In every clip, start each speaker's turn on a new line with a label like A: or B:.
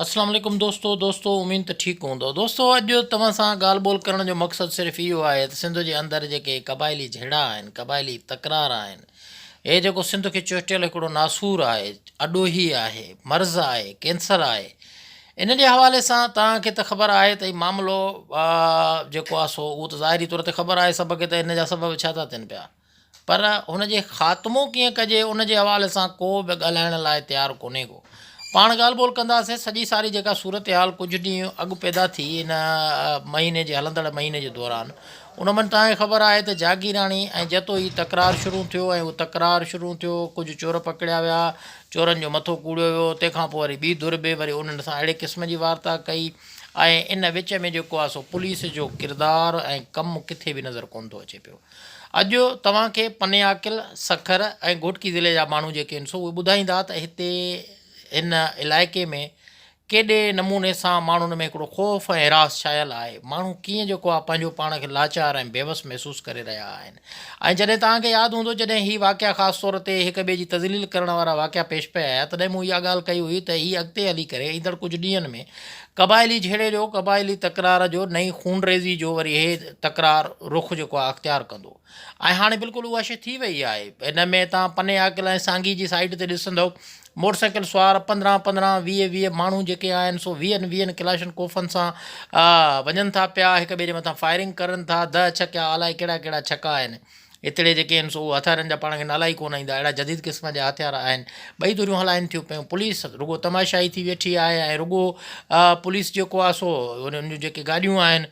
A: اسلام عليڪم دوستو دوستو اميد ته ٺيڪ هوندؤ دوستو اڄ توهان سان ڳالهه ٻولهه ڪرڻ جو مقصد صرف اهو آهي ته سنڌ جي اندر جيڪي قبائلي جهيڙا آهن قبائلي تڪرار آهن هي جيڪو سنڌ کي چهٽيل هڪڙو ناسور آهي اڏوهي آهي مرض آهي ڪينسر آهي ان جي حوالي سان توهان کي ته خبر آهي ته هي معاملو جيڪو آهي سو اهو ته ظاهري طور تي خبر آهي سڀ کي ته هن جا سبب ڇا ٿا ٿين پيا پر هن جي خاتمو ڪيئن ڪجي ان جي حوالي سان ڪو به ڳالهائڻ لاء تيار ڪونهي ڪو. پاڻ ڳالهه ٻولهه ڪنداسين. سڄي ساري جيڪا صورتحال ڪجهه ڏينهن اڳ پيدا ٿي ان مهيني جي هلندڙ مهيني جي دوران ان من تان کي خبر آهي ته جاگيراڻي ۽ جتو ئي تڪرار شروع ٿيو ۽ اهو تڪرار شروع ٿيو ڪجهه چور پڪڙيا ويا چورن جو مٿو ڪوڙيو ويو تنهن کان پوء وري ٻي ڌر به وري انهن سان اهڙي قسم جي وارتا ڪئي ۽ ان وچ ۾ جيڪو آهي سو پوليس جو ڪردار ۽ ڪم ڪٿي به نظر ڪونه ٿو اچي پيو. اڄ توهان کي پنياڪل، سکر ۽ گهوٽڪي ضلعي جا ماڻهو جيڪي هن سو اهي ٻڌائيندا ته هتي هن علائقي ۾ ڪيڏي نموني سان ماڻهن ۾ هڪڙو خوف ۽ هراس ڇانيل آهي. ماڻهو ڪيئن جيڪو آهي پنهنجو پاڻ کي لاچار ۽ بيوس محسوس ڪري رهيا آهن ۽ جڏهن توهان کي ياد هوندو جڏهن هي واقعا خاص طور تي هڪ ٻئي جي تذليل ڪرڻ وارا واقعا پيش پئي آيا تڏهن مون اها ڳالهه ڪئي هئي ته هي اڳتي هلي ڪري ايندڙ ڪجهه ڏينهن ۾ قبائلي جهيڙي جو، قبائلي تڪرار جو، نئين خونريزي جو وري هي تڪرار رخ جيڪو آهي اختيار ڪندو ۽ هاڻي بلڪل اها شيء ٿي وئي آهي. هن ۾ تان پني عاقل ۽ سانگي جي سائيڊ تي ڏسندؤ، موٽر سائيڪل سوار پندرهن پندرهن، ويهه ويهه ماڻهو جيڪي آهن سو ويهن ويهن ڪلاشن ڪوفن سان وڃن ٿا پيا، هڪ ٻئي جي مٿان فائرنگ ڪرن ٿا، دهه ڇڪيا، الائي ڪهڙا ڪهڙا ڇڪا آهن. هتڙي جيڪي آهن سو اهي هٿيارن جا پاڻ کي نالا ئي ڪونه ايندا اهڙا جديد قسم جا هٿيار آهن ٻئي ڌريون هلائين ٿيون پيون پوليس رڳو تماشائي ٿي ويٺي آهي ۽ رڳو پوليس جيڪو آهي سو انهن جون جيڪي گاڏيون آهن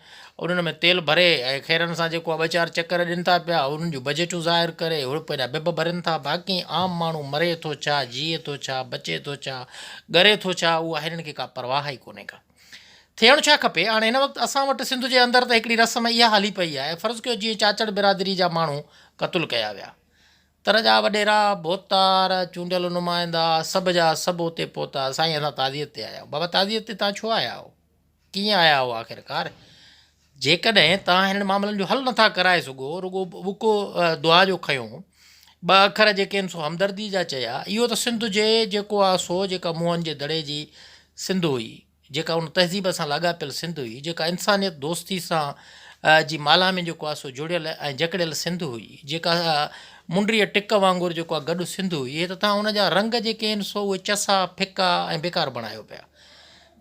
A: انهن ۾ تيل ڀري ۽ خيرن سان جيڪو آهي ٻه چار چڪر ڏين ٿا پيا انهن جون بجيٽون ظاهر ڪري هڙپ هيڏا بب ڀرين ٿا باقي عام ماڻهو مري ٿو ڇا جيئي ٿو ڇا بچي ٿو ڇا ڳري ٿو ڇا اها هنن کي ڪا پرواهه ئي ڪونهي ڪا ٿيڻ ڇا کپي؟ هاڻ هن وقت اسان وٽ سنڌ جي اندر ته هڪڙي رسم اها هلي پئي آهي، فرض ڪيو جيئن چاچڙ برادري جا ماڻهو قتل ڪيا ويا، تر جا وڏيرا، ڀوتار، چونڊيل نمائندا، سڀ جا سڀ اتي پهتا، سائين اسان تعزيت تي آيا آهيون، بابا تعزيت تي توهان ڇو آيا آهيو؟ ڪيئن آيا آهيو آخرڪار؟ جيڪڏهن توهان هنن معاملن جو حل نٿا ڪرائي سگهو، رڳو ٻڪو دعا جو کنيو. ٻه اکر جيڪي هن سو همدردي جا چيا. اهو ته سنڌ جي جيڪو آ سو، جيڪا موهن جي دڙي جي سنڌ هئي، جيڪا ان تهذيب سان لاڳاپيل سنڌ هئي، جيڪا انسانيت دوستي سان جي مالها ۾ جيڪو آ سو جڙيل ۽ جڪڙيل سنڌ هئي، جيڪا منڊريء ٽڪ وانگر جيڪو آ گڏ سنڌ هئي، اهي ته توهان ان جا رنگ جيڪي هن سو اهي چسا، ڦڪا ۽ بيڪار بڻايو پيا.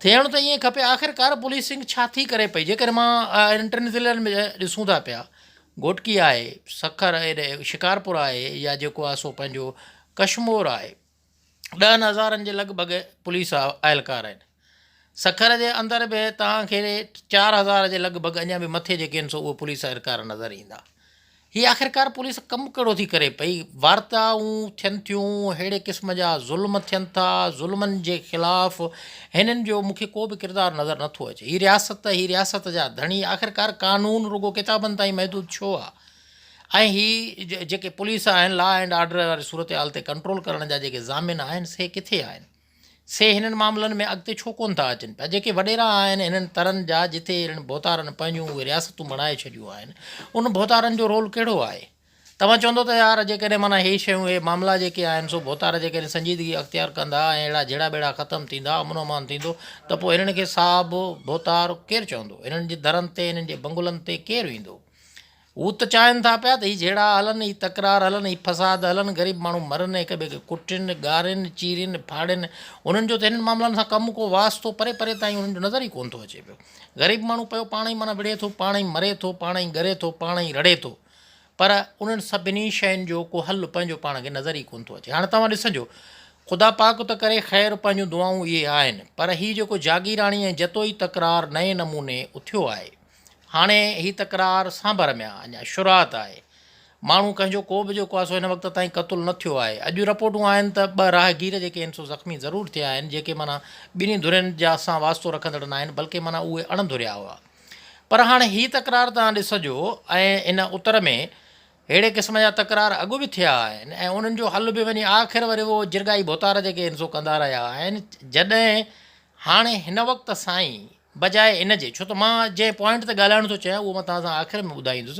A: ٿيڻ ته ائين کپي آخرڪار پوليسنگ ڇا ٿي ڪري پئي جيڪڏهن مان اهڙن ٽن ضلعن ۾ ڏسون ٿا پيا گهوٽڪي آهي سکر اهي شڪارپور آهي يا جيڪو آهي سو پنهنجو ڪشمور آهي ڏهن هزارن جي لڳ ڀڳ پوليس اهلڪار آهن سکر جي اندر به تهان کي چار هزار جي لڳ ڀڳ اڃا به مٿي جيڪي آهن سو اهي پوليس اهلڪار نظر ايندا هي آخرڪار پوليس ڪم ڪهڙو ٿي ڪري پئي؟ وارتائون ٿين ٿيون، اهڙي قسم جا ظلم ٿين ٿا، ظلمن جي خلاف هنن جو مون کي ڪو به ڪردار نظر نه ٿو اچي. هي رياست، هي رياست جا ڌڻي، آخرڪار قانون رڳو ڪتابن تائين محدود ڇو آ؟ ۽ هي جيڪي پوليس آهن، لا اينڊ آرڊر واري صورتحال تي ڪنٽرول ڪرڻ جا جيڪي ضامن آهن، سي ڪٿي آهن؟ سي هنن معاملن ۾ اڳتي ڇو ڪونه ٿا اچن پيا. جيڪي وڏيرا آهن هنن ترن جا جتي اهڙن ڀوتارن پنهنجون اهي رياستون بڻائي ڇڏيون آهن ان ڀوتارن جو رول ڪهڙو آهي. توهان چوندو ته يار جيڪڏهن معنيٰ هي شيون هي معاملا جيڪي آهن سو ڀوتار جيڪڏهن سنجيدگي اختيار ڪندا ۽ اهڙا جهيڙا ٻيڙا ختم ٿيندا امن امان ٿيندو ته پوء هنن کي صاحب ڀوتار ڪير چوندو هنن جي درن تي هنن جي بنگلن تي ڪير ويندو. هو ته چاهين ٿا پيا ته هي جهيڙا هلن، هي تڪرار هلن، هي فساد هلن، غريب ماڻهو مرن ۽ هڪ ٻئي کي ڪٽين، ڳارين، چيرين، ڦاڙين، انهن جو ته هنن معاملن سان ڪم ڪو واسطو پري پري تائين انهن جو نظر ئي ڪونه ٿو اچي پيو. غريب ماڻهو پيو پاڻ ئي معنيٰ وڙهي ٿو، پاڻ ئي مري ٿو، پاڻ ئي ڳري ٿو، پاڻ ئي رڙهي ٿو. پر انهن سڀني شين جو ڪو حل پنهنجو پاڻ کي نظر ئي ڪونه ٿو اچي. هاڻ توهان ڏسنجو، خدا پاڪ ته ڪري خير پنهنجون دعائون اهي آهن، پر هي جيڪو جاگيراڻي ۽ جتوئي تڪرار نئين نموني اٿيو آهي، هاڻي هي تڪرار سانڀر ۾ آ، اڃا شروعات آهي. ماڻهو ڪنهن جو ڪو به جيڪو آسو هن وقت تائين قتل نه ٿيو آهي. اڄ جون رپورٽون آهن ته ٻه راهگير جيڪي هن سو زخمي ضرور ٿيا آهن جيڪي معنيٰ ٻنهي ڌرين جا سان واسطو رکندڙ ناهن بلڪه معنيٰ اهي اڻ ڌريا هئا. پر هاڻي هي تڪرار توهان ڏسجو ۽ ان اتر ۾ ههڙي قسم جا تڪرار اڳ به ٿيا آهن ۽ انهن جو حل به وڃي آخر وري اهو جرڳائي ڀوتار جيڪي هن سو ڪندا رهيا آهن جڏهن هاڻي هن وقت سائين بجاء ان جي ڇو ته مان جنهن پوائنٽ تي ڳالهائڻ ٿو چاهيان اهو مان توهان سان آخر ۾ ٻڌائيندس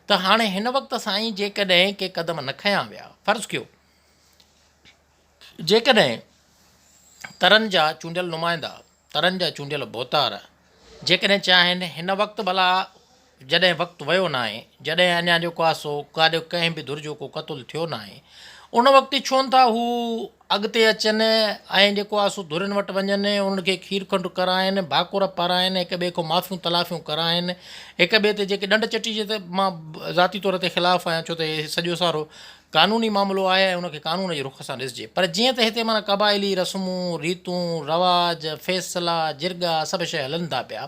A: ته هاڻي هن وقت سائين جيڪڏهن ڪي قدم نه کنيا ويا فرض ڪيو جيڪڏهن ترن جا چونڊيل نمائندا ترن جا چونڊيل ڀوتار جيڪڏهن چاهين هن وقت ڀلا جڏهن وقت ويو ناهي، جڏهن اڃا جو ڪاسو ڪاڏيو ڪنهن به ڌر جو ڪو قتل ٿيو ناهي، ان وقت ڇونه ٿا هو اڳتي اچن ۽ جيڪو ڪاسو ڌرين وٽ وڃن، انهن کي کير کنڊ ڪرائين، ڀاڪر پارائين، هڪ ٻئي کان معافيون تلافيون ڪرائين، هڪ ٻئي تي جيڪي ڏنڊ چٽي جي ته مان ذاتي طور تي خلاف آهيان ڇو ته هي سڄو سارو قانوني معاملو آهي ۽ ان کي قانون جي رخ سان ڏسجي پر جيئن ته هتي معنيٰ قبائلي رسمون، ريتون، رواج، فيصلا، جرڳا سڀ شيء هلن ٿا پيا.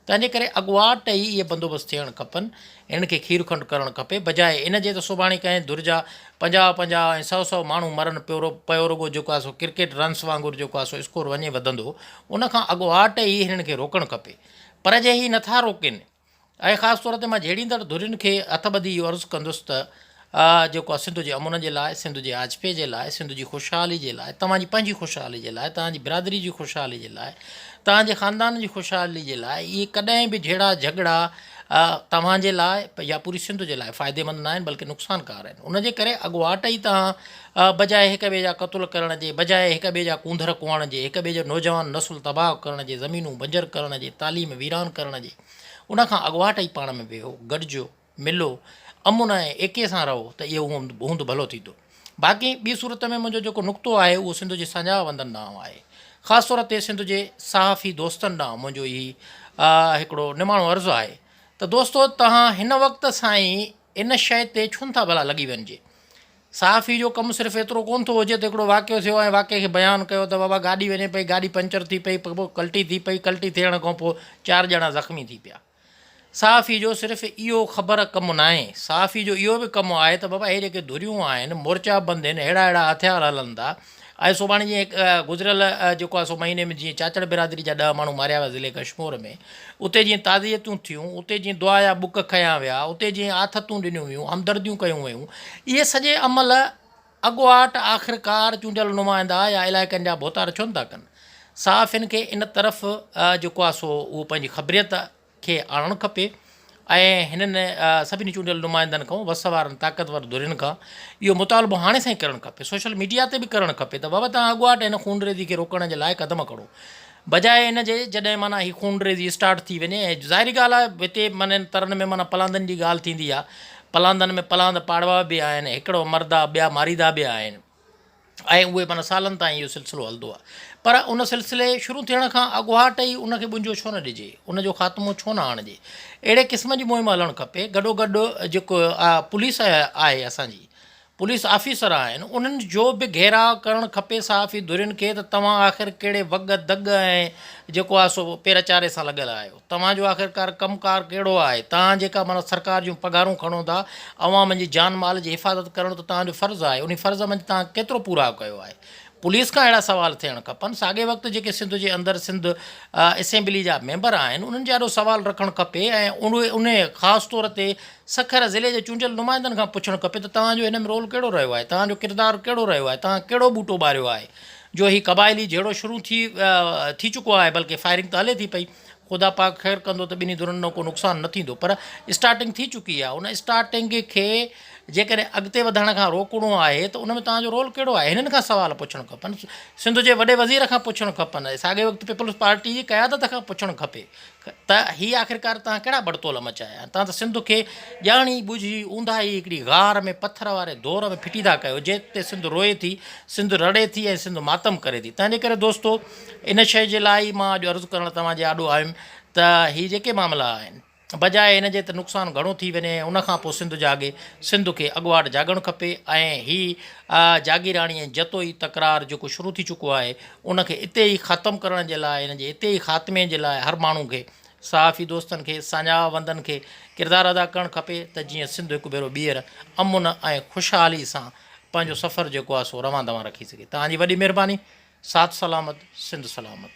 A: تنهن جي ڪري اڳواٽ ئي اهي بندوبست ٿيڻ کپن. هنن کي کير کنڊ ڪرڻ کپي. بجاء ان جي ته سڀاڻي ڪنهن ڌر جا پنجاهه پنجاهه ۽ سؤ سؤ ماڻهو مرن پيو پيو رڳو جيڪو آهي سو ڪرڪيٽ رنس وانگر جيڪو آهي سو اسڪور وڃي وڌندو ان کان اڳواٽ ئي هنن کي روڪڻ کپي. پر جي هي نٿا روڪين. اهي خاص طور تي مان جهيڙيندڙ ڌرين کي هٿ ٻڌي اهو عرض ڪندس ته. آء جيڪو آء سنڌ جي امن جي لاء، سنڌ جي آجپي جي لاء، سنڌ جي خوشحالي جي لاء، توهان جي پنهنجي خوشحالي جي لاء، توهان جي برادري جي خوشحالي جي لاء، توهان جي خاندان جي خوشحالي جي لاء اهي ڪڏهن به جهيڙا جهڳڙا توهان جي لاء يا پوري سنڌ جي لاء فائديمند نه آهن بلڪه نقصان ڪار آهن ان جي ڪري اڳواٽ ئي توهان بجاء هڪ ٻئي جا قتل ڪرڻ جي بجاء هڪ ٻئي جا ڪونڌر ڪوئڻ جي هڪ ٻئي جو نوجوان نسل تباهه ڪرڻ جي زمينون بنجر ڪرڻ جي تعليم ويران ڪرڻ جي ان کان اڳواٽ ئي پاڻ ۾ ويهو گڏجو ملو امن ۽ ايڪي سان رهو ته اهو هوند ڀلو ٿيندو. باقي ٻي صورت ۾ منهنجو جيڪو نقطو آهي اهو سنڌ جي ساڃاهوندن ڏانهن آهي. خاص طور تي سنڌ جي صحافي دوستن ڏانهن منهنجو هي هڪڙو نماڻو عرض آهي ته دوستو توهان هن وقت سائين ان شيء تي ڇونه ٿا ڀلا لڳي وڃجي. صحافي جو ڪم صرف ايترو ڪونه ٿو هجي ته هڪڙو واقعو ٿيو ۽ واقعي کي بيان ڪيو ته بابا گاڏي وڃي پئي، گاڏي پنچر ٿي پئي، پوء ڪلٽي ٿي پئي، ڪلٽي ٿيڻ کان پوء چار ڄڻا زخمي ٿي پيا. صحافي جو صرف اهو خبر ڪم ناهي، صحافي جو اهو به ڪم آهي ته بابا هي جيڪي ڌريون آهن، مورچا بند هن، ههڙا ههڙا هٿيار هلن ٿا ۽ سڀاڻي جيئن هڪ گذريل جيڪو آهي سو مهيني ۾ جيئن چاچڙ برادري جا ڏهه ماڻهو ماريا ويا ضلعي ڪشمور ۾ اتي جيئن تعزيتون ٿيون، اتي جيئن دعا جا ٻڪ کنيا ويا، اتي جيئن آٿتون ڏنيون ويون، همدرديون ڪيون ويون اهي سڄي عمل. اڳواٽ آخرڪار چونڊيل نمائندا يا علائقن جا ڀوتار ڇو نه ٿا ڪن؟ صحافين کي ان طرف جيڪو آهي سو اهو پنهنجي خبريت کي آڻڻ کپي ۽ هنن سڀني چونڊيل نمائندن کان وس وارن طاقتور ڌرين کان اهو مطالبو هاڻي سان ئي ڪرڻ کپي، سوشل ميڊيا تي به ڪرڻ کپي ته بابا توهان اڳواٽ هن خونريزي کي روڪڻ جي لاء قدم کڻو. بجاء ان جي جڏهن معنيٰ هي خونريزي اسٽارٽ ٿي وڃي ۽ ظاهري ڳالهه آهي هتي معنيٰ ان ترن ۾ معنيٰ پلاندن جي ڳالهه ٿيندي آهي پلاندن ۾ پلاند پاڙوا به آهن هڪڙو مردا ٻيا ماريدا به آهن ۽ اهي معنيٰ سالن تائين اهو سلسلو هلندو آهي پر ان سلسلي شروع ٿيڻ کان اڳواٽ ئي ان کي ٻنجو ڇو نه ڏجي ان جو خاتمو ڇو نه آڻجي اهڙي قسم جي مهم هلڻ کپي گڏوگڏ جيڪو پوليس آهي اسان جي پوليس آفيسر آهن انهن جو به گهيراء ڪرڻ کپي صحافي ڌرين کي ته توهان آخر ڪهڙي وڳ دڳ ۽ جيڪو آهي سو پير چاري سان لڳل آهيو توهان جو آخر ڪار ڪم ڪار ڪهڙو آهي توهان جيڪا معنيٰ سرڪار جون پگهارون کڻو ٿا عوام جي جان مال جي حفاظت ڪرڻ ته توهان جو فرض آهي انهي فرض منجهه توهان ڪيترو پورائو ڪيو آهي پوليس کان اهڙا سوال ٿيڻ کپن ساڳي وقت جيڪي سنڌ جي اندر سنڌ اسيمبلي جا ميمبر آهن انهن جي آڏو سوال رکڻ کپي ۽ انهي خاص طور تي سکر ضلعي جي چونڊيل نمائندن کان پڇڻ کپي ته توهان جو ان ۾ رول ڪهڙو رهيو آهي، توهان جو ڪردار ڪهڙو رهيو آهي، توهان ڪهڙو ٻوٽو ٻاريو آهي جو هي قبائلي جهيڙو شروع ٿي ٿي چڪو آهي بلڪه فائرنگ ته هلي ٿي پئي خدا پاڪ خير ڪندو ته ٻنهي ڌرين ڏانهن ڪو نقصان نه ٿيندو پر اسٽارٽنگ ٿي چڪي آهي ان اسٽارٽنگ کي جيڪڏهن اڳتي وڌائڻ کان روڪڻو آهي ته ان ۾ توهان جو رول ڪهڙو آهي هنن کان سوال پڇڻ کپن سنڌ جي وڏي وزير کان پڇڻ کپن ساڳئي وقت پيپلز پارٽي جي قيادت کان پڇڻ کپي ته هي آخرڪار توهان ڪهڙا ٻڙتول مچايا آهن؟ توهان ته سنڌ کي ڄاڻي ٻجهي اونداهي هڪڙي غار ۾ پٿر واري دور ۾ ڦٽي ٿا ڪيو، جنهن تي سنڌ روئي ٿي، سنڌ رڙي ٿي ۽ سنڌ ماتم ڪري ٿي. تنهنجي ڪري دوستو ان شيء جي لاء ئي مان اڄ عرض ڪرڻ توهان جي آڏو آيم ته هي جيڪي معاملا آهن، بجاء ان جي ته نقصان گهڻو ٿي وڃي ۽ ان کان پوء سنڌ جاڳي، سنڌ کي اڳواٽ جاڳڻ کپي ۽ هي جاگيراڻي ۽ جتوئي تڪرار جيڪو شروع ٿي چڪو آهي، ان کي اتي ئي ختم ڪرڻ جي لاء ان جي اتي ئي خاتمي جي لاء هر ماڻهو کي صحافي دوستن کي ساڃاهه وندن کي ڪردار ادا ڪرڻ کپي ته جيئن سنڌ هڪ ڀيرو ٻيهر امن ۽ خوشحالي سان پنهنجو سفر جيڪو آهي سو روان دوان رکي سگهي توهان جي وڏي مهرباني ساٿ سلامت سنڌ سلامت.